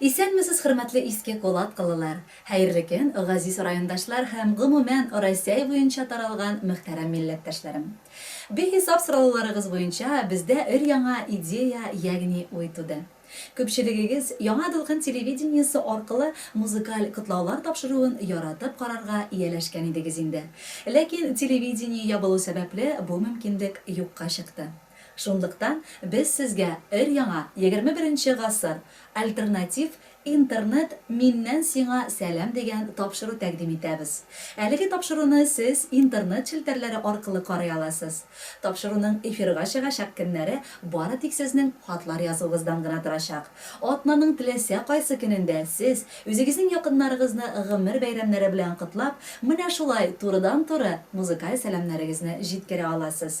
Исәнмесез хөрмәтле иске колаткалылар, хәерле көн газиз райондашлар һәм гомумән Росяй буенча таралган мөхтәрәм милләттәшләрем. Бихисап сорауларыгыз буенча бездә өр-яңа идея ягъни уй туды. Күпчелегегез Яңа дулкын телевидениесе аркылы музыкаль котлаулар тапшыруын яратып карарга ияләшкән идегез инде. Ләкин телевидение ябылу сәбәпле бу мөмкинлек юкка чыкты. Шунлыктан без сезгә өр-яңа егерме беренче гасыр альтернатив Интернет Миннән сиңа сәлам дигән тапшыру тәкъдим итәбез. Әлеге тапшыруны сез Интернет челтәрләре аркылы карый аласыз. Тапшыруның эфирга чыгачак көннәре бары тик сезнең хатлар язуыгыздан гына торачак. Атнаның теләсә кайсы көнендә сез, үзегезнең якыннарыгызны гомер бәйрәмнәре белән котлап, менә шулай турыдан-туры музыкаль сәламнәрегезне җиткерә аласыз.